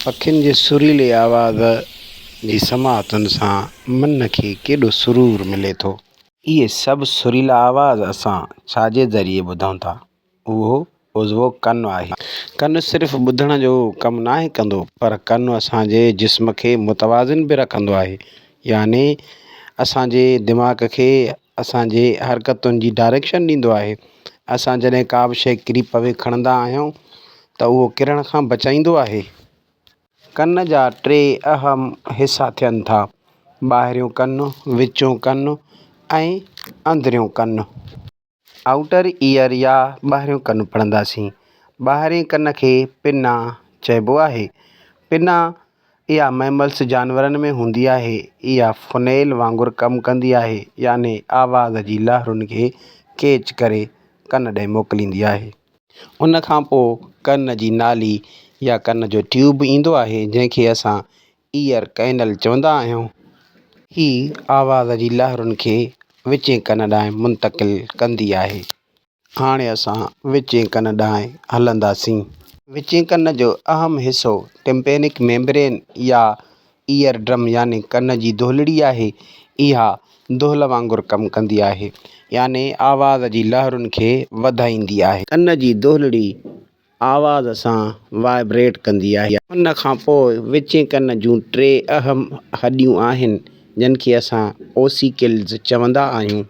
پکين جي سريلي آواز جي سماعتن سان من کي ڪيڏو سرور ملي ٿو. اهي سڀ سريلا آواز اسان ڇا جي ذريعي ٻڌون ٿا؟ اهو عضوو ڪن آهي. ڪن صرف ٻڌڻ جو ڪم ناهي ڪندو پر ڪن اسان جي جسم کي متوازن به رکندو آهي يعني اسان جي دماغ کي اسان جي حرڪتن جي ڊائريڪشن ڏيندو آهي اسان جڏهن ڪا به شيء ڪري پوي کڻندا آهيون ته اهو ڪرڻ کان بچائيندو آهي. ڪن جا ٽي اهم حصا ٿين ٿا، ٻاهريون ڪن، وچون ڪن ۽ اندريون ڪن. آئوٽر ايئر يا ٻاهريون ڪن پڙهنداسين. ٻاهرين ڪن کي پنا چئبو آهي. پنا اها مئملس جانورن ۾ هوندي آهي. اها فنيل وانگر ڪم ڪندي آهي يعني آواز جي لهرن کي ڪيچ ڪري ڪن ڏي موڪليندي آهي. ان کان پوء ڪن جي نالي يا ڪن جو ٽيوب ايندو آهي جنهن کي اسان Ear Canal چوندا آهيون. هي آواز جي لهرن کي وچين ڪن ڏانهن منتقل ڪندي آهي. هاڻي اسان وچين ڪن ڏانهن هلنداسين. وچين ڪن جو اهم حصو ٽمپينڪ ميمبرين يا ايئر ڊرم يعني ڪن جي دهلڙي آهي. اها دهل وانگر ڪم ڪندي آهي يعني آواز جي لهرن کي وڌائيندي آهي. ڪن جي دهلڙي آواز سان وائبريٽ ڪندي آهي. ان کان پوء وچين ڪن جون ٽي اهم هڏيون آهن جن کي اسان اوسيڪلز چوندا آهيون.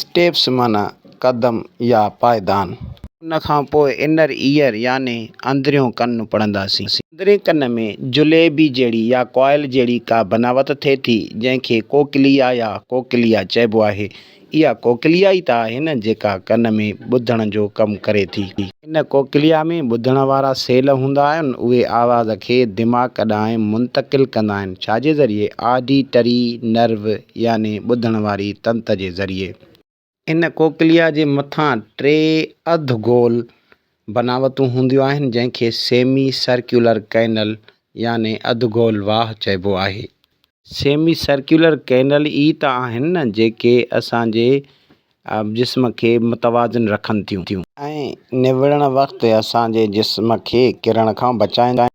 Steps معنيٰ قدم يا پائدان. ان کان پوء Inner Ear يعني اندريون ڪن پڙهنداسين. اندرين ڪن ۾ جليبي جهڙي يا ڪوائل جهڙي ڪا بناوت ٿئي ٿي جنهن کي ڪوڪليا يا ڪوڪليا چئبو آهي. اها ڪوڪليا ئي ته آهي نه جيڪا ڪن ۾ ٻڌڻ جو ڪم ڪري ٿي. ان ڪوڪليا ۾ ٻڌڻ وارا سيل هوندا آهن اهي آواز کي دماغ ڏانهن منتقل ڪندا آهن ڇا جي ذريعي Auditory Nerve يعني ٻڌڻ واري تنت جي ذريعي. ان ڪوڪليا جي مٿان ٽي اڌ گول بناوتون هونديون آهن، جنهن کي سيمي سرڪيولر ڪئنل يعني اڌ گول واهه چئبو آهي. سيمي سرڪيولر ڪئنل ئي ته آهن نه جيڪي اسان جي جسم کي متوازن رکن ٿيون. ۽ نوڙڻ وقت اسان جي جسم کي ڪرڻ کان بچائين ٿيون.